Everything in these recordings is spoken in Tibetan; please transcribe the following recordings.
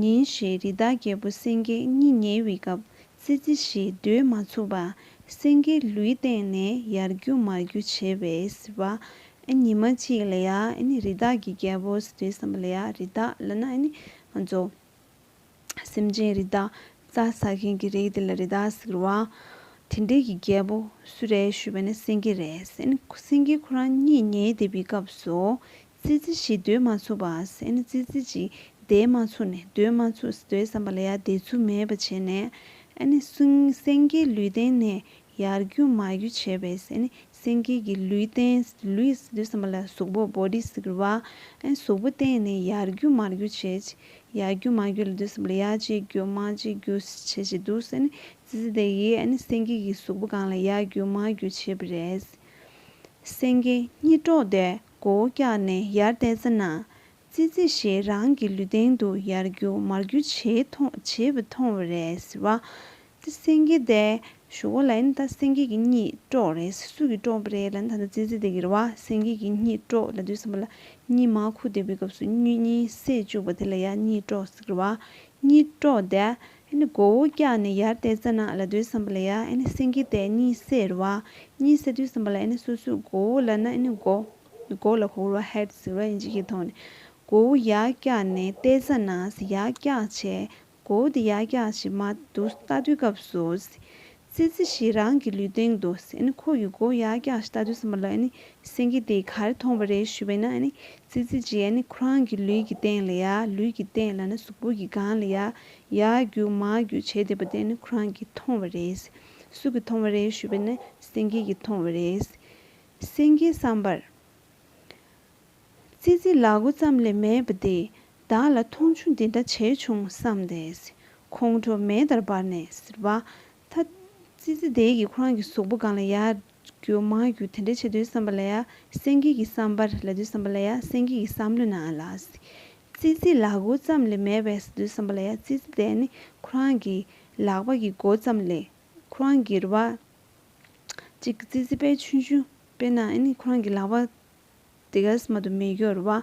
ཉིན་ཞིག་རི་དྭགས་རྒྱལ་པོ་སེང་གེ་གཉིད་ཉལ་བའི་སྐབས་ཙི་ཙི་ཞིག་རྡོས་མ་ཚུགས་པར་སེང་གེའི་ལུས་སྟེང་ནས་ཡར་རྒྱུག་མར་རྒྱུག་བྱེད་པས་ཟེར་བ། ཉི་མ་གཅིག་ལ་ཡ་ནི་རི་དྭགས་ཀྱི་རྒྱལ་པོ་ཟེར་བསམ་པ་ལ་ཡ་རི་དྭགས་ལ་ན་ནི་ང་ཚོ་སེམས་ཅན་རི་དྭགས་རྩྭ་ཟ་མཁན་གྱི་རིགས་དེ་ལ་རི་དྭགས་ཟེར་བ། དེ་འདྲའི་གི་རྒྱལ་པོ་སུ་རེད་ཞུས་པ་ནི་སེང་གེ་རེད། སེང་གེ་ཁོ་རང་གཉིད་ཉལ་བསྡད་པའི་སྐབས་སུ་ཙི་ཙི་ཞིག་སྡོད་མ་ཚུགས་པ་ཟེར་ནས་ཙི་ཙི་ཅིག་བསྡད་མ་ཚུགས་ནས་སྡོད་མ་ཚུགས་སྡོད་བསམ་པ་ལ་ཡར་བསྡད་ཚུལ་མེད་པ་བྱས་ནས། ཨ་ནི་སེང་གེའི་ལུས་སྟེང་ནས་ཡར་རྒྱུག་མར་རྒྱུག་བྱས་པས་ཟེར་ནས་སེང་གེ་གི་ལུས་སྟེང་ལུས་སུ་སྡོད་བསམ་པ་ལ་གཟུགས་པོ Body ཟེར་བ། ཨ་ནི་གཟུགས་པོ་སྟེང་ནས་ཡར་རྒྱུག་མར་རྒྱུག་བྱས། ཡར་རྒྱུག་མར་རྒྱུག་ལ་སྡོད་བསམ་པ་ལ་ཡར་ཅིག་རྒྱུག་མར་ཅིག་རྒྱུག་བྱས་བྱས་འདུག་ཟེར་ནས་ཙི་ཙི་དེ་ཡིས་ཨ་ནི་སེང་གེ་གི་གཟུགས་པོ་སྒང་ལ་ཡར་རྒྱུག་མར་རྒྱུག་བྱས་པ་རེད། སེང་གེ་གཉིད་དཀྲོགས་ཏེ་མགོ་བོ་བཀྱགས་ནས་ཡར་བལྟས་ཚེ་ན། ཙི་ཙི་ཞེས་རང་གི་ལུས་སྟེང་དུ་ཡར་རྒྱུ་མར་རྒྱུ་བྱེད་པ་མཐོང་བས་རེད། ཟེར་བ། ཏི་སེང་གེ་དེ་ཞུགས་པ་ལ་ཡིན་ད་སེང་གེ་གི་གཉིད་དཀྲོགས་རེད་ཟེར་སུ་གིས་དཀྲོགས་པ་རེད་ལ་ཡིན་ད་ཙི་ཙི་དེ་གི་རེད་བ། སེང་གེ་གི་གཉིད་དཀྲོགས་ལ་དུས་སམ་པ་ལ་གཉིད་མ་ཁུག་བསྡད་པའི་སྐབས་སུ་སྨྱོ་གཉིད་སད་བཅུག་པ་དེ་ལ་ཡང་གཉིད་དཀྲོགས་ཟེར་བ། གཉིད་དཀྲོགས་དེ་ཨེ་ནི་མགོ་བོ་བཀྱགས་ནས་ཡར་བལྟས་ཙ་ན་ལ་དུས་བསམ་པ་ལ་ཡ་ཨེ་ནི་སེང་གེ་དེ་གཉིད་སད་ར་བ་གཉིད་སད་དུས་བསམ་པ་ལ་ཨེ་ནི་སོ་སོའི་མགོ་བོ་ལ་ན་ཨེ་ནི་མགོ་མགོ་ལ་ཁོག་ར་ཧད་ཟེར་བ་ཨེ་འཇིག་གི་ཐོག་ནས་མགོ་བོ་ཡར་བཀྱགས་ནས་བལྟས་ཙ་ན་ཡར་བཀྱགས་བྱས་མགོ་བོ་དེ་ཡར་བཀྱགས་བྱས་མ་དུ་ལྟ་དུས་སྐབས་སུ་ཙི་ཙི་ཞེས་རང་གི་ལུས་སྟེང་དུ་ཨེ་ཁོ་ཡི་མགོ་ཡར་བཀྱགས་ཤིང་ལྟ་དུས་སྲིན་པོ་ལ་ཨེ་སེང་གེ་དེས་ག་རེ་མཐོང་བ་རེད་ཞུས་པས་ན་ཨེ་ཙི་ཙི་ཅི་ཨེ་ཁོ་རང་གི་ལུས་ཀྱི་སྟེང་ལ་ཡར་ལུས་ཀྱི་སྟེང་ལ་ཨེ་གཟུགས་པོ་ཀྱི་སྒང་ལ་ཡར་ཡར་རྒྱུགས་མར་རྒྱུགས་བྱས་བསྡད་པ་དེ་ཨེ་ཁོ་རང་གིས་མཐོང་བ་རེད། སུ་གིས་མཐོང་བ་རེད་ཞུས་པས་ན་ཨེ་སེང་གེ་གིས་མཐོང་བ་རེད། སེང་གེའི་བསམ་པར། ཙི་ཙི་ལག་མགོ་ཙམ་ལས་མེད་པ་འདིས་བདག་ལ་མཐོང་ཆུང་འདི་འདྲ་བྱས་བྱུང་བསམ་ཏེ། ཁོང་ཁྲོ་མེ་ལྟར་འབར་ནས་ཟེར་བ། ད། ཙི་ཙི་དེས་ཀྱིས་ཁོ་རང་གི་གཟུགས་པོ་གང་ལ་ཡ། རྒྱུ་མ་རྒྱུ་དེ་འདྲ་བྱེད་དུས་བསམ་པ་ལ་ཡ། སེང་གེ་གི་བསམ་པར་ལ་དུས་བསམ་པ་ལ་ཡ་སེང་གེ་གི་བསམ་བློ་ན་ལ། ཙི་ཙི་ལག་མགོ་ཙམ་ལས་མེད་པས་ཟེར་དུས་བསམ་པ་ལ་ཡ་ཙི་ཙི་དེ་ནི་ཁོ་རང་གི་ལག་པ་གི་མགོ་ཙམ་ལས་ཁོ་རང་གིར་བ། ཅིག་ཙི་ཙི་པས་ཆུན་ཆུན་དཔེ་ན་ཁོ་རང་གི་ལག་པ་དེ་ག་སྨྲ་དུ་མི་གྱུར་བ།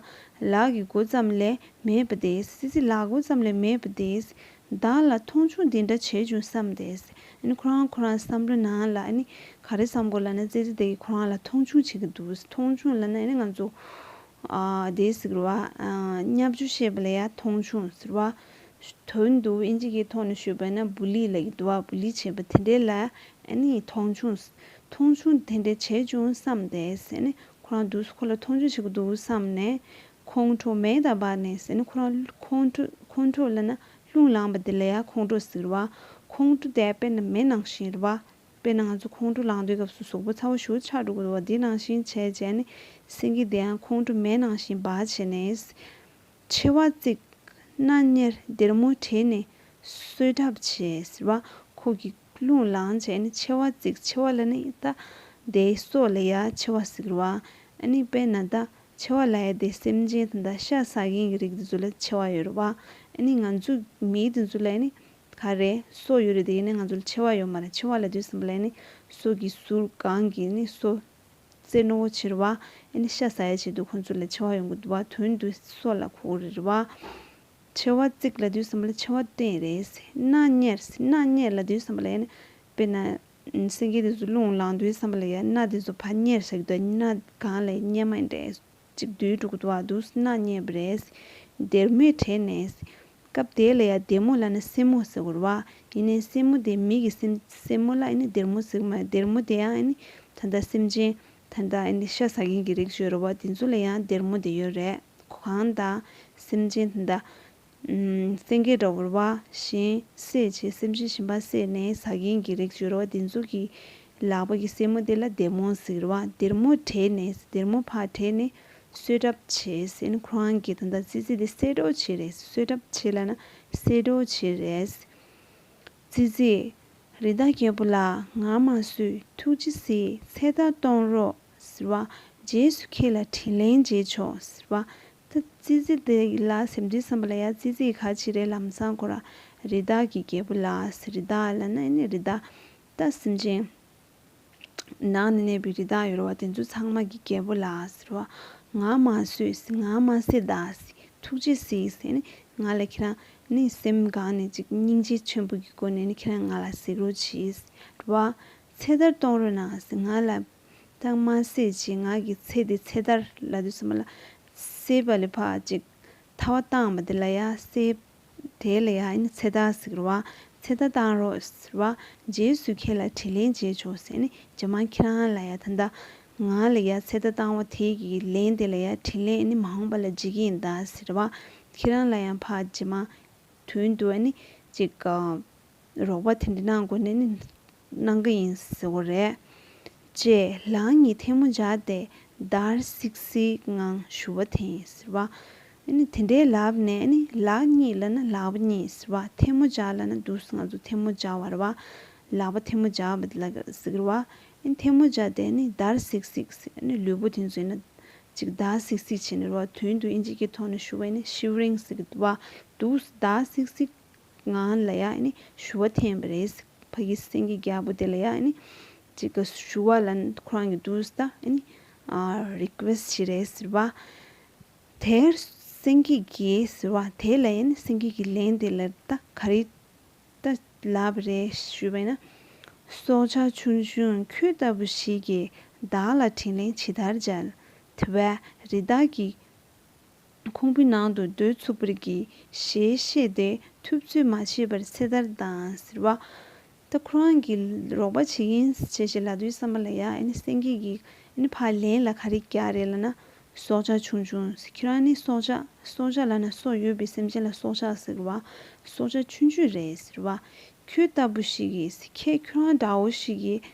ལག་གི་མགོ་ཙམ་ལས་མེད་པ་དེ། སྲིད་རྩེ་ལག་མགོ་ཙམ་ལས་མེད་པ་དེ། བདག་ལ་མཐོང་ཆུང་འདི་འདྲ་བྱས་བྱུང་བསམ་སྟེ། ཁོ་རང་ཁོ་རང་བསམ་འགྲོ་ན་ལ། ག་རེ་བསམ་དགོས་ལ་ན་རྩེ་རྩེ་དེ་གིས་ཁོ་རང་ལ་མཐོང་ཆུང་བྱེད་ཀྱི་འདུག་མཐོང་ཆུང་ལ་ན་ང་ཚོ། དེ་ཟེར་བ། སྙབ་ཆུ་ཤེས་པ་ལ་ཡང་མཐོང་ཆུང་ཟེར་བ། དོན་དུ་དབྱིན་ཇི་གའི་ཐོག་ནས་ཤོད་པ་ན་བུ་ལི་ལ་ཡི་དུ་བ་བུ་ལི་བྱེད་པ་དེ་འདྲའི་ལ། མཐོང་ཆུང། མཐོང་ཆུང་དེ་འདྲ་བྱས་བྱུང་བསམ་ཏེ་ཟེར་ནས་ཁོ་རང་དུས་སུ་ཁོ་ལ་མཐོང་ཆུང་བྱེད་ཀྱི་འདུག་བསམ་ནས། ཁོང་ཁྲོ་མེ་དང་འབར་ནས་ཟེར་ནས་ཁོ་རང་ཁོང་ཁྲོ་ཁོང་ཁྲོ་ལ་ན་ལྷུང་ལངས་པ་དེ་ལ་ཡང་ཁོང་ཁྲོ་ཟེར་བ། ཁོང་ཁྲོ་དེ་དཔེར་ན་མེ་ནང་བཞིན་རེད། དཔེར་ན་ང་ཚོ་ཁོང་ཁྲོ་ལངས་དུས་སྐབས་སུ་གཟུགས་པོ་ཚ་བོ་ཞུ་ཆགས་འགྲོ་གི་འདུག་བ་དེ་ནང་བཞིན་བྱས་བྱས་ནས་སེང་གེ་དེའང་ཁོང་ཁྲོ་མེ་ནང་བཞིན་འབར་བྱས་ནས། མཆེ་བ་གཙིགས། སྣ་གཉེར་སྡེར་མོ་བྲེས་ནས་གསོད་གྲབས་བྱེད། ཟེར་བ་ཁོག་གི་རླུང་ལངས་བྱས་ནས་མཆེ་བ་གཙིགས་མཆེ་བ་ལ་ནི་ད་ཟླའི་སྲོག་ལ་ཡ་མཆེ་བ་གཟིགས་རོགས་ཨ། ཨ་ནི་དཔེར་ན་ད་མཆེ་བ་ལ་ཡ་དེ་སེམས་ཅན་དང་ད་ཤ་ཟ་མཁན་གྱི་རིགས་དེ་ཚོ་ལ་མཆེ་བ་ཡོད་རོགས་ཨ། ཨ་ནི་ང་ཚོ་མི་དེ་ཚོ་ལ་ཡ་ནི་ག་རེ་སྲོག་ཡོད་རེད་དེ་ཡིན་ན་ང་ཚོ་ལ་མཆེ་བ་ཡོད་མ་རེད་མཆེ་བ་ལ་དུས་གསུམ་པ་ལ་ཡ་ནི་སྲོག་གི་ཟུར་གང་གིས་ནི་གསོ། རྩེ་རྣོ་བོ་ཆེ་རེད་བ། ཨེ་ནི་ཤ་ཟ་ཡ་བྱེད་དུས་ཁོང་ཚོ་ལས་ཆེ་བ་ཡོང་གི་འདུག་བ་དོན་དུ་སྲོག་ལ་ཁོག་རེད་བ། ཆེ་བ་བརྩིགས་ལ་དུས་སམ་ལ་ཆེ་བ་བསྟན་རེད། སྣ་གཉེར་སྣ་གཉེར་ལ་དུས་སམ་ལ་ཡ་ནི། དཔེར་ན། སེང་གེ་དེ་ཚོ་རླུང་ལངས་དུས་སམ་ལ་ཡ་སྣ་དེ་ཚོ་བ་གཉེར་བྱ་གི་འདུག་སྣ་གང་ལ་ཡ་གཉེར་མ་ཡིན་དྲན། གཅིག་བསྡུས་དྲུག་བདོ་བ་བསྡུ་ཟིན་ན་རྙེད་པ་རེད། སྡེར་མོས་དྲས་ནས། སྐབས་དེ་ལ་ཡང་སྡེར་མོ་ལ་ནི་སེན་མོ་ཟེར་བར་བ། ཡིན་ནའི་སེན་མོ་དེ་མིག་གི་སེམས། སེན་མོ་ལ་ཡིན་ནའི་སྡེར་མོ་ཟེར་གི་མ་རེད། སྡེར་མོ་དེ་ཡང་ད་ལྟ་སེམས་ཅན། ད་ལྟ་ཤ་ཟ་མཁན་གྱི་རིགས་བརྗོད་རུང་བ་དེ་ཚོ་ལ་ཡང་སྡེར་མོ་དེ་ཡོད་རེད། གང་ལྟ། སེམས་ཅན་ད་ལྟ། སེང་གེ་སྒྲོག་བུར་བ་བཞིན་བསྲེག་བྱེད་སེམས་ཅན་ཞིམ་པ་བསྲེགས་ནས་ཟ་མཁན་གྱི་རེག་བྱོས་ར་བ་འདི་ཚོ་གི་ལག་པ་གི་སེན་མོ་དེ་ལ་སྡེར་མོ་ཟེར་བ་སྡེར་མོ་བྲེགས་ནས་སྡེར་མོ་ཕག་བྲེགས་ནས་གསོད་གྲབ་བྱེད་སེན་ཁོ་རང་གི་ད་ལྟ་ཙི་ཙི་དེ་བསད་གྲོགས་བྱེད་རེད་གསོད་གྲབ་བྱེད་ལ་ན་བསད་གྲོགས་བྱེད་རེད། ཙི་ཙི། རི་དྭགས་རྒྱལ་པོ་ལགས་ང་མ་གསོད་ཐུགས་རྗེ་སི་ཚེ་ད་གཏོང་རོགས་ཟེར་བ་རྗེས་སུ་ཁྱེད་ལ་དྲིན་ལན་འཇལ་ཆོག་ཟེར་བ་ད་ཙི་ཙི་དེ་ལ་སེམས་ཅན་བསམ་པ་ལ་ཡ་ཙི་ཙི་ག་ཅི་རེད་ལམ་སང་ཁོ་རང་རི་དྭགས་ཀྱི་རྒྱལ་པོ་ལགས་རི་དྭགས་ལ་ནི་ནི་རི་དྭགས་ད་སེམས་ཅན་ནང་ནས་གནས་པའི་རི་དྭགས་ཡོད་རོ་བ་དེ་ཚོ་ཚང་མ་གི་རྒྱལ་པོ་ལགས་རོ་བ་ང་མ་ཟོས་ང་མ་སེ་ད་སི་ཐུགས་རྗེ་སི་སེ་ནི་ང་ལ་ཁྱེད་རང་ནི་སེམས་གང་ནས་ཅིག་སྙིང་རྗེ་ཆེན་པོ་གི་སྒོ་ནས་ནི་ཁྱེད་རང་ང་ལ་གཟིགས་རོ་བྱས་རོ་བ་ཚེ་ཐར་གཏོང་རོ་གནང་སི་ང་ལ་དང་མ་སྲིད་ཅེས་ངག་གི་ཚེ་དེ་ཚེ་ཐར་ལ་དུས་སུ་མ་ལ་སྲིད་པ་ལས་ཕག་ཅིག་ཐ་བ་བཏང་བ་དེ་ལ་ཡ་སྲིད། དེ་ལ་ཡ་ནི་ཚེ་ཐར་ཟིག་རོ། ཚེ་ཐར་བཏང་རོགས་ཟེར་བ། རྗེས་སུ་ཁྱེད་ལ་དྲིས་ལན་བྱས་ཆོག་ཟེར་ནས་ཇེ་མང་ཁྱེད་རང་ལ་ཡ་ད་ད་ང་ལ་ཡ་ཚེ་ཐར་བཏང་བ་དེ་གི་ལན་དེ་ལ་ཡ་དྲིས་ལན་ནི་མ་འོངས་པ་ལ་བརྗེ་གི་ཡིན་ད་ཟེར་བ། ཁྱེད་རང་ལ་ཡང་ཕག་ཇེ་མང་དོན་དུ་ཨ་ནི་ཅིག། རོགས་པ་དེ་འདྲ་གནང་དགོས་ནས་ནི་གནང་གི་ཡིན་ཟེར་བ་རེད། ཅེས་ལག་གཉིས་ཐལ་མོ་སྦྱར་ཏེ་འདར་སིག་སིག་ངང་ཞུ་བ་དེ་ཡིན་ཟེར་བ། དེ་འདྲའི་ལབ་ནས་ནི་ལག་གཉིས་ལ་ནི་ལག་པ་གཉིས་ཟེར་བ་ཐལ་མོ་སྦྱར་ལ་ནི་འདུག་ང་ཚོ་ཐལ་མོ་སྦྱར་བ་རེད་བ། ལག་པ་ཐལ་མོ་སྦྱར་བ་དེ་ལ་ཟེར་བ། ཐལ་མོ་སྦྱར་ཏེ་ནི་འདར་སིག་སིག་ཟེར་ལུས་པོ་དེ་ཚོས་ནི་ཅིག་འདར་སིག་སིག་བྱས་ནས་རོགས་དུས་འདུག་ཨིན་ཇིག་གི་ཐོག་ནས་ཞུ་བས་ནི་ཤིའུ་རེང་ཟེར་གི་འདུག་བ། འདུག་འདར་སིག་སིག། ང་ལ་ཡང་ནི་ཞུ་བ་འཐེན་པ་རེད། ཕ་གི་སེང་གེ་རྒྱལ་པོ་དེ་ལ་ཡང་ནི་གཅིག་གི་ཞུ་བ་ལ་ཁོ་རང་གི་འདུག་ད་ནི Request བྱེད་རེད་ཟེར་བ། དེར་སེང་གེ་རྒྱལ་ཟེར་བ་དེ་ལ་ཡང་ནི་སེང་གེ་གི་ལན་དེ་ལ་ད་ག་རེ་ད་ལབ་པ་རེད་ཞུས་པས་ན། སྲོག་ཆགས་ཆུང་ཆུང་ཁྱོད་ལྟ་བུ་ཞིག་གིས་བདག་ལ་དྲིན་ལན་ཇི་ལྟར་འཇལ། དེ་བས་རི་དྭགས་ཀྱི་ཁུང་བུའི་ནང་དུ་རྡོའི་ཚུགས་པར་གྱིས་ཞེས་བཤད་དེ་ཐུབ་ཚོད་མ་བྱས་པར་ཚེ་ཐར་དང་ཟེར་བ། ད་ཁོ་རང་གིས་རོགས་པ་བྱེད་ཀྱིན་བྱས་བྱས་ལ་དུས་སམ་པ་ལ་ཡ་ནི་སེང་གེ་གི་ནི་ཕ་ལན་ལ་ག་རེ་རྒྱག་རེད་ལ་ན་སྲོག་ཆགས་ཆུང་ཆུང་ཟེར་ཁྱེད་རང་ནི་སྲོག་ཆགས་སྲོག་ཆགས་ལ་ན་སྲོག་ཡོད་པའི་སེམས་ཅན་ལ་སྲོག་ཆགས་ཟེར་བ་སྲོག་ཆགས་ཆུང་ཆུང་རེད་ཟེར་བ། ཁྱོད་ལྟ་བུ་ཞིག་གིས་ཟེར་ཁྱེད་ཁྱོད་རང་འདྲ་བོ་ཞིག་གིས་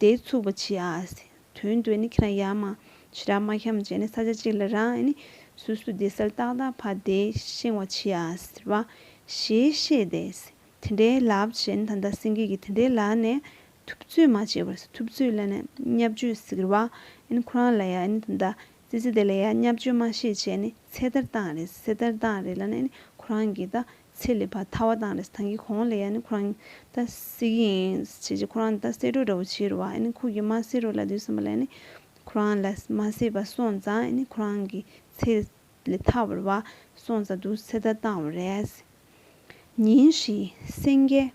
དེ་ཚུགས་པ་ཆི་ཨཱས། དོན་དུ་ནི་ཁྱེད་རང་ཡར་མ་ཕྱི་རབས་མ་འཁྱམས་བྱས་ནས་ས་ཆ་གཅིག་ལ་རང་ནི་སུ་སུ་དེ་སར་ཏག་ཏག་ཕ་དེ་ཤེང་བ་ཆི་ཨཱས་རེད་བ། ཞེས་བཤད་དེ། དེ་འདྲའི་ལབ་བྱས་ནི་ད་ལྟ་སེང་གེ་གི་དེ་འདྲའི་ལག་ནས་ཐུབ་ཚོད་མ་བྱས་པར་ཐུབ་ཚོད་ལ་ནི་བསྙབ་བྱོས་ཟིག་རེད་བ། ཁོ་རང་ལ་ཡང་ནི་ད་ལྟ་ཙི་ཙི་དེ་ལ་ཡང་སྙབ་བཅོས་མ་ཤེས་བྱས་ནི་ཚེ་ལྟར་བཏང་རེས་ཚེ་ལྟར་བཏང་རེས་ལ་ནས་ནི་ཁོ་རང་གི་ད་ཚེ་ལས་བར་ཐར་བ་བཏང་རེས་ཐང་གི་གོང་ལས་ཡ་ནི་ཁོ་རང་ད་བསད་ཀྱི་ཡིན་བྱས་བྱས་ཁོ་རང་ད་བསད་འགྲོ་འདྲ་བོ་བྱས་རུ་བ་ཡ་ནི་ཁུག་གི་མ་བསད་རུ་ལ་དུས་སམ་པ་ལ་ཡ་ནི་ཁོ་རང་ལ་མ་བསད་པ་སོང་ཙང་ཡ་ནི་ཁོ་རང་གི་ཚེ་ལས་ཐར་བར་བ་སོང་ཙང་དུ་ཚེ་ལྟར་བཏང་བ་རེད། ཉིན་ཞིག་སེང་གེ།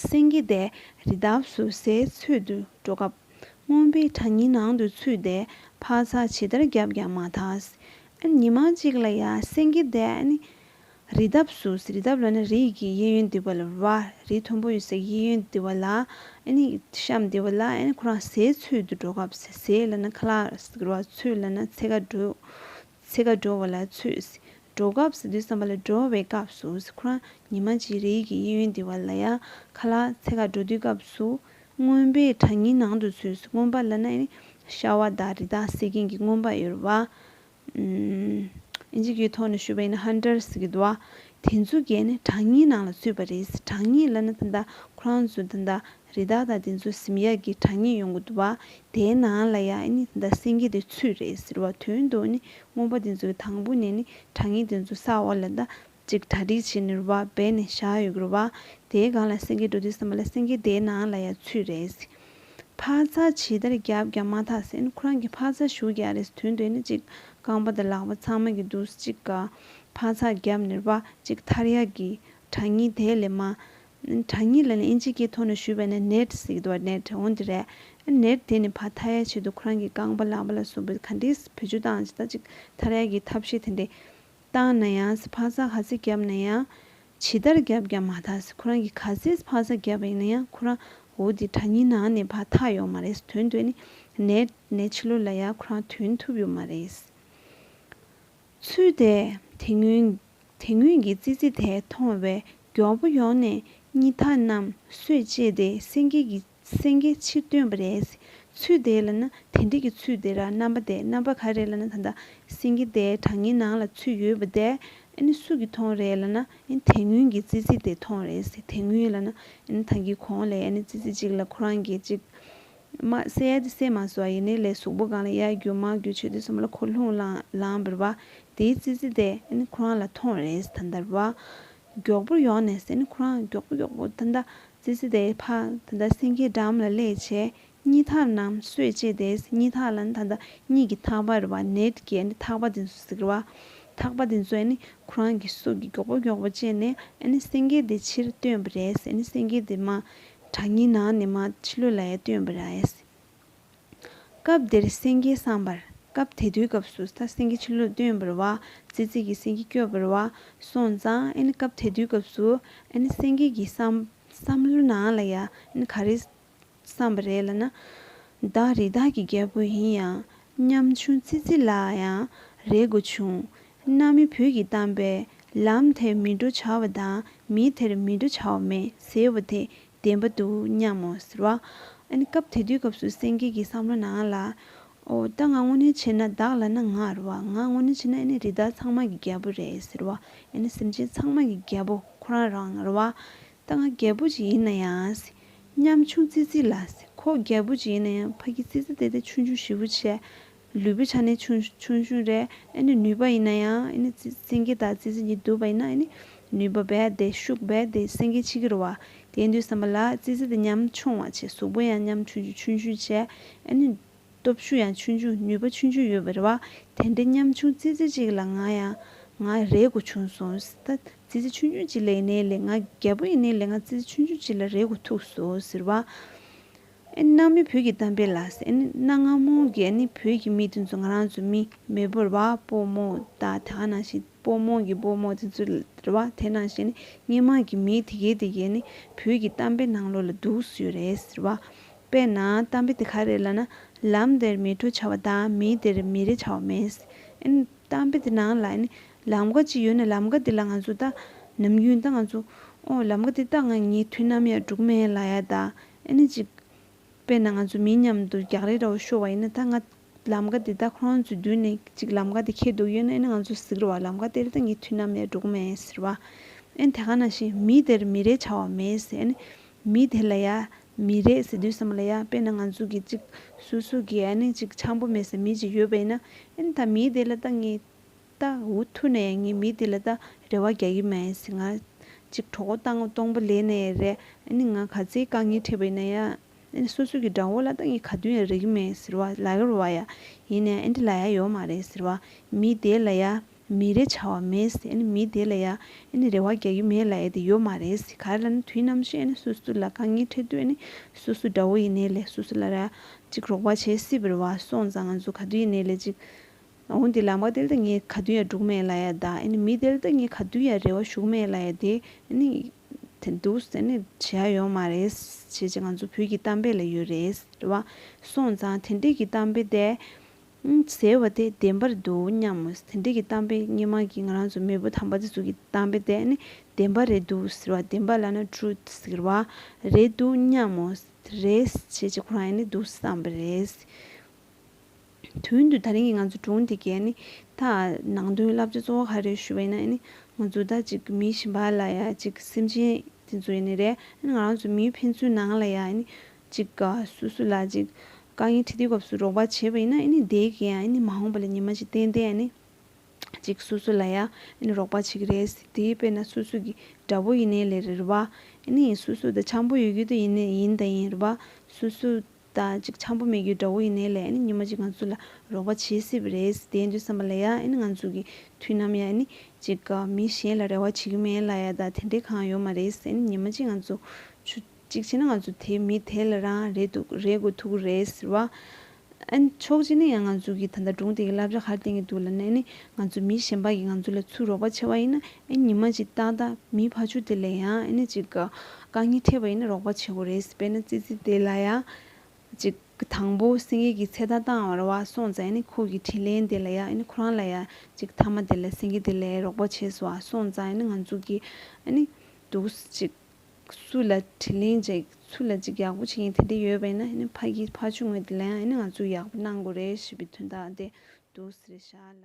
སེང་གེ་དེ་རི་འདབས་སུ་ཟས་འཚོལ་དུ་འགྲོ་སྐབས། རྔོན་པས་བྲག་ཉིལ་ནང་དུ་ཚུད་དེ་འཕག་འཚག་ཇི་ལྟར་བརྒྱབ་ཀྱང་མ་ཐག། ཉི་མ་གཅིག་ལ་ཡང་སེང་གེ་དེ་རི་འདབས་སུ་རི་འདབས་ལ་ནི་རི་ཡི་གི་གཡས་གཡོན་དེ་བ་ལ་བ་རི་མཐོན་པོ་ཡོད་སའི་གཡས་གཡོན་དེ་བ་ལ་བཤམས་དེ་བ་ལ་ཁོ་རང་ཟས་འཚོལ་དུ་འགྲོ་སྐབས་ཟས་ལ་ནི་ཁ་ལག་ར་འཚོལ་ལ་ནི་ཚེ་ཁ་འགྲོས། ཚེ་ག་འགྲོ་བ་ལ་ཚུད། འགྲོ་སྐབས་སུ་དུས་བསམ་པ་ལ་འགྲོ་བའི་སྐབས་སུ་ཁོ་རང་ཉི་མ་གཅིག་རེ་ཡིག་གི་གཡས་གཡོན་འདི་བ་ལ་ཡ་ཁ་ལ་ཚེ་ག་འགྲོ་དུས་སྐབས་སུ། རྔོན་པས་བྲག་ཉིའི་ནང་དུ་ཚུད་རྔོན་པ་ལ་ན་ནི་ཤ་བ་དང་རི་དྭགས་བསད་མཁན་གྱི་རྔོན་པ་ཡོད་རེད་བ། འཇིགས་ཀྱི་ཐོག་ནས་ཞུ་བའི་ནི Hunters གི་འདུ་བ། དེ་ཚོ་གས་ནི་བྲག་ཉིའི་ནང་ལ་ཚུད་པ་རེད་བྲག་ཉི་ལ་ན་ད་ལྟ་ཁོ་རང་ཚོ་ད་ལྟ་རི་དྭགས་དང་དེ་ཚོའི་ཟིམ་ཡག་གི་གྲངས་ངེས་ཡོང་གི་འདུག་བ་དེའི་ནང་ལ་ཡང་ནི་ཟླ་སེང་གེ་དེ་ཚུད་རེད་ཟེར་བ་དོན་དུ་ནི་རྔོན་པ་དེ་ཚོའི་དང་པོ་ནས་ནི་གྲངས་ངེས་དེ་ཚོ་ས་འོག་ལ་ཟླ་གཅིག་གྲ་སྒྲིག་བྱས་ནས་རུ་བ་སྦས་ནས་བཞག་ཡོད་གི་རུ་བ་དེའི་སྒང་ལ་སེང་གེ་འགྲོ་དུས་སམ་བ་ལ་སེང་གེ་དེའི་ནང་ལ་ཡང་ཚུད་རེད་ཟེར། འཕག་འཚག་ཇི་ལྟར་བརྒྱབ་ཀྱང་མ་ཐག་ཟེར་ནི་ཁོ་རང་གིས་འཕག་འཚག་ཞུ་གི་ཡ་རེད་དོན་དུ་ནི་གཅིག་རྐང་པ་དང་ལག་པ་ཚང་མ་གི་འདུག་གཅིག་ག་འཕག་འཚག་བརྒྱབ་ནས་རུ་བ་གཅིག་ཐར་ཡག་གི་གྲངས་ངེས་དེ་ལས་མ་གྲྭ་གཉིས་ལ་ནི་ཨིན་ཇིས་ཀྱིས་ཐོག་ནས་ཞུས་པ་ནི་ནེད་ཟིག་དོ་ནེད་འོན་དེ་རེད། ནེད་དེ་ནི་ཕ་ཐ་ཡའི་ཆེད་དུ་ཁོ་རང་གི་རྐང་པ་ལག་པ་ལ་སོགས་པའི་ག་འདྲིའི་བུ་ཆུ་དང་ཇི་ལྟ་ཅིག་ཐ་རལ་གྱི་ཐབས་ཤེས་དེ་འདྲས་བཏང་ན་ཡང་ཕ་ས་ག་ཟེ་བརྒྱབ་ན་ཡང། ཇི་ལྟར་བརྒྱབ་ཀྱང་མ་ཐ་ཟེ་ཁོ་རང་གི་ག་ཟེ་ཕ་ས་བརྒྱབ་པ་ཡིན་ན་ཡང་ཁོ་རང་འོ་དེ་གྲྭ་གཉིས་ནང་ནས་ཕ་ཐ་ཡོག་མ་རེད་དོན་དོན་ནི་ནེད་ནི་ཕྱི་ལོ་ལ་ཡ་ཁོ་རང་དུན་ཐུབ་ཡོག་མ་རེད། ཚུལ་དེས་དེ་སྔོན་གྱི་ཙི་ཙི་དེ་མཐོང་བས་མགྱོགས་པོ་ཡོང་ནས་སྙི་ཐག་རྣམས་སོས་བཅད་དེ་སེང་གེ་ཕྱིར་བཏོན་པ་རེད། ཚུལ་དེས་ལ་ན་དེ་འདྲིས་ཀྱི་ཚུལ་དེ་ར་རྣམ་པ་དེ་རྣམ་པ་ག་རེད་ལ་ན་ད་ལྟ་སེང་གེ་དེ་བྲང་ངའི་ནང་ལ་ཚུད་ཡོད་པ་དེ་ཨིན་སུ་གི་མཐོང་རེད་ལ་ན་ཨིན་དེ་སྔོན་གྱི་ཙི་ཙི་དེ་མཐོང་རེད་དེ་སྔོན་ལ་ན་ཨིན་ཐང་གི་གོང་ལས་ཨིན་ཙི་ཙི་གཅིག་ལ་ཁོ་རང་གི་གཅིག་དམག་བསད་ཡས་དེ་བསད་མ་སོགས་ཡེ་ནས་ལས་སུག་པོ་གང་ལ་གཡའ་བརྒྱུད་དམག་བརྒྱུད་ཆོས་སྡེ་གསུམ་ལ་འཁོར་ལྷུང་ལངས་བར་བ་དེའི་ཙི་ཙི་དེ་ཁོ་རང་ལ་ཐོངས་རེས་ད་ལྟར་བ། མགྱོགས་པོར་ཡོང་ནས་ཟེར་ནི་ཁོ་རང་མགྱོགས་པོ་མགྱོགས་པོ་ད་ལྟ་ཙི་ཙི་དེ་ཕ་ད་ལྟ་སེང་གེའི་འགྲམ་ལ་སླེ་བྱས་གཉིད་ཐག་རྣམས་གསོས་བྱས་དེ་གཉིད་ཐག་ལ་ནི་ད་ལྟ་གཉིད་ཀྱི་ཐག་པར་བ་ནད་བསྐྱེད་ནི་ཐག་པ་དེ་ཚོ་ཟེར་བ། ཐག་པ་དེ་ཚོས་ནི་ཁོ་རང་གི་སྲོག་གི་མགྱོགས་པོ་མགྱོགས་པོ་བཅད་ནས་ནི་སེང་གེ་དེ་ཕྱིར་བཏོན་པ་རེད་ཟེར་ནི་སེང་གེ་དེ་མ་གྲགས་སྙིང་ན་ནི་མ་ཕྱི་ལུས་ལ་ཡང་སྟོན་པར་ཨེ་སྲིད། སྐབས་འདིར་སེང་གེའི་བསམ་པར་སྐབས་དེ་དུས་སྐབས་སུ་ས་སེང་གེ་ཕྱི་ལུས་སྟོན་པར་བ་ཙི་ཙི་གི་སེང་གེ་སྐྱོད་པར་བ་སོང་ཙང་ཨེ་ནི་སྐབས་དེ་དུས་སྐབས་སུ་ཨེ་ནི་སེང་གེ་གི་བསམ་བསླུ་ན་ལ་ཡ་ཨེ་ནི་ག་རེ་བསམ་པ་རེད་ལ་ན། བདག་རི་དྭགས་ཀྱི་རྒྱལ་པོ་ཡིན་ཡང་སྙམ་བྱུང་ཙི་ཙི་ལ་ཡང་རེ་དགོས་བྱུང་གནའ་མི་བོད་ཀྱིས་བཏམས་པའི་ལམ་དེར་མི་འགྲོ་བྱ་བ་དང་མིས་དེར་མི་འགྲོ་བྱ་བ་མེད་ཟེར་བ་དེ་བདེན་པ་འདུག་སྙམ་མོ། ཟེར་བ། སྐབས་དེ་དུས་སྐབས་སུ་སེང་གེ་གི་བསམ་བློ་ནང་ལ། ཨོ། ད་ང་དངོས་གནས་བྱེད་ན་བདག་ལ་ན་ང་རུ་བ། ང་དངོས་གནས་བྱེད་ན་ཨེ་ནི་རི་དྭགས་ཚང་མ་གི་རྒྱལ་པོ་རེད་ཟེར་བ། ཨེ་ནི་སེམས་ཅན་ཚང་མ་གི་རྒྱལ་པོ་ཁོ་རང་རང་རུ་བ། ད་ང་རྒྱལ་པོ་ཅིག་ཡིན་ན་ཡང། ཉམ་ཆུང་ཙི་ཙི་ལ། ཁོ་རྒྱལ་པོ་ཅིག་ཡིན་ན་ཡང་ཕ་གི་ཙི་ཙི་དེ་དེ་ཆུང་ཆུང་བཞི་བོ་བྱས། ལུས་པོའི་ཆ་ནི་ཆུང་ཆུང་ཞིང་རེ་ཨེ་ནི་ནུས་པ་ཡིན་ན་ཡང་ཨེ་ནི་སེང་གེ་དག་རྩི་ཟན་གྱིས་བསྡུས་པ་ཡིན་ན་ཨེ་ནི་ནུས་པ་རྦད་དེ་ཤུགས་རྦད་དེ་སེང་གེའི་ཕྱི་ཁྱི་རུ་བ། དེའི་འདུས་བསམ་པ་ལ་རྩི་ཟན་དེ་ཉམ་ཆུང་བ་བྱེད་གཟུགས་པོ་ཡང་ཉམ་ཆུང་ཆུང་ཆུང་ཞིང་བྱེད་ཨེ་ནི། སྟོབས་ཤུགས་ཡང་ཆུང་ཆུང་ནུས་པ་ཆུང་ཆུང་ཡོད་པའི་རེ་བ། དེ་འདྲའི་ཉམ་ཆུང་རྩི་ཟན་ཅིག་ལ་ང་ཡང་ང་རེ་དགོས་བྱུང་སོང་ཟེར། ད་རྩི་ཟན་ཆུང་ཆུང་ཅིག་ལས་ཡིན་ནའི་ལས་ང་རྒད་པོ་ཡིན་ནའི་ལས་ང་རྩི་ཟན་ཆུང་ཆུང་ཅིག་ལ་རེ་དགོས་ཐུག་སོང་ཟེར་བ། ནང་མི་བོད་ཀྱི་གཏམ་དཔེ་ལ་ཟེར་ནི་གནའ་སྔ་མོ་རྒྱལ་ནི་བོད་ཀྱི་མི་དེ་ཚོ་ང་རང་ཚོ་མི་མི་བོར་བ་པོ་མོ་ད་ད་ག་ནང་བཞིན་པོ་མོ་གི་པོ་མོ་དེ་ཚོ་རེད་བ་དེ་ནང་བཞིན་ནི་སྙེ་མང་གི་མི་དེ་གས་དེ་གས་ནི་བོད་ཀྱི་གཏམ་དཔེ་ནང་ལོ་ལ་འདུག་སུའི་རེད་ཟེར་བ་དཔེ་ན་གཏམ་དཔེ་དེ་ག་རེད་ལ་ན་ལམ་དེར་མི་འགྲོ་བྱ་བ་ད་མི་དེར་མི་རེ་བྱ་བ་མེད་ཟེར་གཏམ་དཔེ་དེ་ནང་ལ་ནི་ལམ་ཀ་གཅིག་ཡོད་ནི་ལམ་ཀ་དེ་ལ་ང་ཚོ་ད་ནམ་རྒྱུན་ད་ང་ཚོ་ཨོ་ལམ་ཀ་དེ་ད་ང་ཉེ་དུས་ནམ་ཡང་འགྲུག་མེད་ལ་ཡ་ད་ཨེ་ནི་ཅིག། དཔེར་ན་ང་ཚོ་མིའི་མཉམ་དུ་རྒྱག་རེས་འདྲ་བོ་ཤོར་བ་ཡིན་ན་ད་ང། ལམ་ཀ་འདི་དག་ཁོ་རང་ཚོའི་མདུན་ནས་ཅིག་ལམ་ཀ་འདི་འཁེལ་འདུག་ཡོད་ན་ཨེ་ནི་ང་ཚོ་ཟིག་རོ་བ་ལམ་ཀ་དེ་རི་ད་ངས་དུས་ནམ་ཡང་འགྲོ་གི་མེད་ཟེར་བ། ཨེ་ནི་དེ་ག་ནང་བཞིན་མི་དེར་མི་རེ་བྱ་བ་མེད་ཟེར་ཨེ་ནི། མི་དེ་ལ་ཡ། མི་རེ་ཟེར་དུས་ཟེར་མ་ལ་ཡ་དཔེར་ན་ང་ཚོ་གི་ཅིག། སོ་སོ་གི་ཨེ་ནི་ཅིག་ཆངས་པོ་མེད་སའི་མི་ཅིག་ཡོད་པ་ཡིན་ན། ཨེ་ནི་ད་མི་དེ་ལ་ད་ངས། ད་འུ་ཐུག་ནས་ངས་མི་འདི་ལ་ད་རེ་བ་རྒྱག་གི་མེད་ཟེར་ང། ཅིག་གྲོགས་པོ་སྟངས་སྟོང་པོ་ལས་ནས་རེད་ཨཱ་ནི་ང་ག་ཚད་དཀའ་ངལ་འཕྲད་པའི་ན་ཡ། ཨཱ་ནི་སོ་སོ་གི་དགྲ་བོ་ལ་ད་ངས་ག་དུས་ཡང་རེག་གི་མེད་ཟེར་བ་ལ་ཡོར་བ་ཡ། ཡིན་ནའི་ཨཱ་འདི་ལ་ཡ་ཡོར་མ་རེད་ཟེར་བ། མི་དེ་ལ་ཡ། མི་རེ་བྱ་བ་མེད་ཟེར་ཨཱ་ནི་མི་དེ་ལ་ཡ། ཨཱ་ནི་རེ་བ་རྒྱག་གི་མེད་ལ་ཡ་དེ་ཡོར་མ་རེད་ཟེར་ག་རེ་ལ་ནི་དུས་ནམ་ཞིག་ཨཱ་ནི་སོ་སོ་ལ་དཀའ་ངལ་འཕྲད་དུས་ཨཱ་ནི་སོ་སོ་དགྲ་བོ་ཡིན་ནའི་ལས་སོ་སོ་ལ་རེ། ཅིག་རོགས་པ་བྱེད་སྲིད་པར་བ་སོང་ཙང་ང་ཚོ་ག་དུས་ཡིན་ནའི་ལས་ཅིག། འོན་ཏེ་ལམ་ག་དེལ་ཏེ་ངས་ག་དུས་ཡང་འབྲུག་མེད་ལ་ཡ་ད་ཨེ་མི་དེལ་ཏེ་ངས་ག་དུས་ཡང་རེ་བ་ཞུགས་མེད་ལ་ཡ་དེ་ཨེ་ནི་དེ་འདུག་ཨེ་ནི་བྱེད་ཡ་ཡོད་མ་རེད་བྱེད་བྱེད་ང་ཚོ་བོད་ཀྱི་གཏམ་དཔེ་ལ་ཡོད་རེད་རེད་བ་སོང་ཙང་དེ་འདྲས་ཀྱི་གཏམ་དཔེ་དེ་ཟེར་བ་དེ་བདེན་པར་འདུག་སྙམ་མོ་དེ་འདྲས་ཀྱི་གཏམ་དཔེ་སྙེ་མ་གི་ང་རང་ཚོ་མེས་པོ་དམ་པ་དེ་ཚོ་གི་གཏམ་དཔེ་དེ་ཨེ་ནི་བདེན་པ་རེད་འདུག་ཟེར་བ་བདེན་པ་ལ་ན Truth ཟེར་བ་རེད་འདུག་སྙམ་མོ་རེད་བྱེད་བྱེད་ཁོ་རང་ཨེ་ནི་འདུག་བསམ་པ་རེད། དོན་དུ་ད་རིང་གི་ང་ཚོ་སྒྲུང་འདི་གའི་ད་ནང་དོན་བསླབ་བྱ་གཙོ་བོ་ག་རེ་ཞུ་བ་ཡིན་ན་ང་ཚོ་ད་ཅིག་མི་ཞིག་འབའ་ལ་ཡ་ཅིག་སེམས་ཅན་དེ་ཚོ་ཡིན་རེད་ང་རང་ཚོ་མིའི་ཕན་ཚུན་ནང་ལ་ཡ་ཅིག་ག་སུ་སུ་ལ་ཅིག་དཀའ་ངལ་འཕྲད་དུས་སྐབས་སུ་རོགས་པ་བྱེད་པ་ཡིན་ན་དེའི་ག་མ་འོངས་པ་ལ་ཉི་མ་ཞིག་བརྟན་ཏེ་ཡ་ཅིག་སུ་སུ་ལ་ཡ་རོགས་པ་བྱེད་ཀྱི་རེད་དེའི་དཔེར་ན་སུ་སུ་གི་དགྲ་བོ་ཡིན་ནའི་ལེ་རེད་རེད་བ། སུ་སུ་ད་ཆང་བུ་ཡོད་རྒྱུ་དེ་ཡིན་ཡིན་ད་ཡིན་རེད་བ། སུ་སུ་ད་ཅིག་ཆང་བུ་མེད་རྒྱུའི་དགྲ་བོ་ཡིན་ནའི་ལས་ཉི་མ་ཅིག་ང་ཚོ་ལ་རོགས་པ་བྱེད་སྲིད་པ་རེད་དེ་འདྲའི་བསམ་པ་ལ་ཡ་ང་ཚོ་གི་དུས་ནམ་ཡ་ཅིག་མི་གཞན་ལ་རེ་བ་བྱེད་རྒྱུ་མེད་ལ་ཡ་ད་དེ་འདྲའི་གང་ཡོད་མ་རེད་ཉི་མ་ཅིག་ང་ཚོ་ཆུ་གཅིག་བྱས་ན་ང་ཚོ་དེ་མི་དེ་ལ་རང་རེ་འདུག་རེ་དགོས་ཐུག་གི་རེད་ཟེར་བ། ཕྱོགས་གཅིག་ནས་ཡང་ང་ཚོ་གི་ད་ལྟ་སྒྲུང་དེ་གི་བསླབ་བྱ་གར་བསྟན་གི་འདུག་ལ་ནས་ནི་ང་ཚོ་མི་གཞན་པ་གི་ང་ཚོ་ལ་ཚུར་རོགས་པ་བྱས་བ་ཡིན་ན་ཨེ་ཉི་མ་ཅིག་ཏག་ཏག་མིའི་ཕ་ཆུ་དེ་ལས་ཡང་ཨེ་ནི་ཅིག་གི་རྐང་གཉིས་ཕྲད་པ་ཡིན་ན་རོགས་པ་བྱེད་དགོས་རེད་དཔེར་ན་ཙི་ཙི་དེ་ལ་ཡང་ཅིག་གི་དང་པོ་སེང་གེ་གི་ཚེ་ད་ལྟའང་བར་བར་སོང་ཙང་ཨེ་ནི་ཁོ་གི་དྲིན་ལན་དེ་ལ་ཡང་ཨེ་ནི་ཁོ་རང་ལ་ཡང་ཅིག་ཐ་མ་དེ་ལ་སེང་གེ་དེ་ལས་རོགས་པ་བྱས་སུ་བར་སོང་ཙང་ཨེ་ནི་ང་ཚོ་གི་ཨེ་ནི་འདུག་ཅིག་སུ་ལ་དྲིན་ལན་འཇལ་སུ་ལ་ཅིག་ཡག་པོ་བྱེད་མཁན་དེ་འདྲ་ཡོད་པ་ཡིན་ན་ཨེ་ནི་ཕ་གི་ཕ་ཆུ་ངོས་དེ་ལ་ཡང་ཨེ་ནི་ང་ཚོ་ཡག་པོ་གནང་དགོས་རེད་ཞེས་པའི་དོན་དག་དེ་འདུག་རེད་ཤ་ལ།